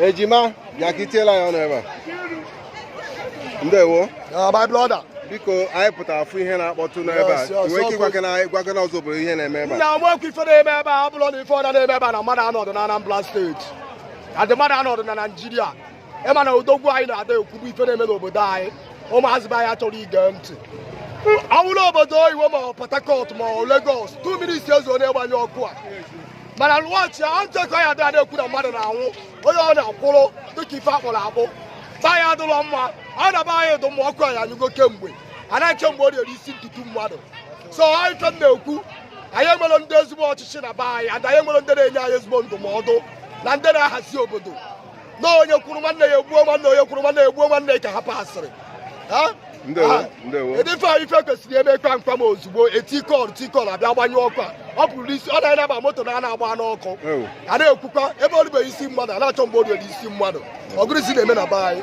ejima bịa ka i tiela ya ọnụ ebe a ndewo my brother biko anyị pụtara ịfụ ihe na-akpọtụ n'ebe a Yes, yes, nwee ike ọkụ. ịgwakene anyị gwakene ọzọ obodo ihe na-eme ebe a na nekwa ife na-eme ebe a ọ bụrụ na ife ọda na-eme ebe a na mmadụ anọdụ na anambra steeti and mmadụ anọdụ na naijiria ịma na odogwu anyị na-ada ekwubu ife na-eme n'obodo anyị ụmụazị be anyị achọrọ ige ntị ọ bụrụ obodo oyibo ma ọ port harcourt ma ọ lagos 2 minutes ezu onye gbanyụ ọkụ a mana lụọchi a ntụkọ ya dịa na-ekwu na mmadụ na-anwụ onye ọbụna akwụrụ dịka ife a kpụrụ akpụ be anyị adịrọ mma ọ na be anyị dụ mma ọkụ anyị anyụgo kemgbe a na-achọ mgbe ọ na-eri isi ọtụtụ mmadụ so anyị fe na-ekwu anyị enwerọ ndị ezigbo ọchịchị na be anyị and anyị enwerọ ndị na-enye anyị ezigbo ndụmọdụ na ndị na-ahazi obodo na onye kwuru nwanne ya egbuo nwanne onye kwuru nwanne ya egbuo nwanne ya ka ha pasịrị ndị ife anyị ife kwesịrị eme kpam kpam ozugbo helicopter abịa gbanyụ ọkụ a ọ pụrụ isi ọ naanị na-agba moto na a na-agba n'ọkụ a na-ekwukwa ebe o ribeghị isi mmadụ a na-achọ mgbe o ribeghị isi mmadụ ọ gịnịzi na-eme na be anyị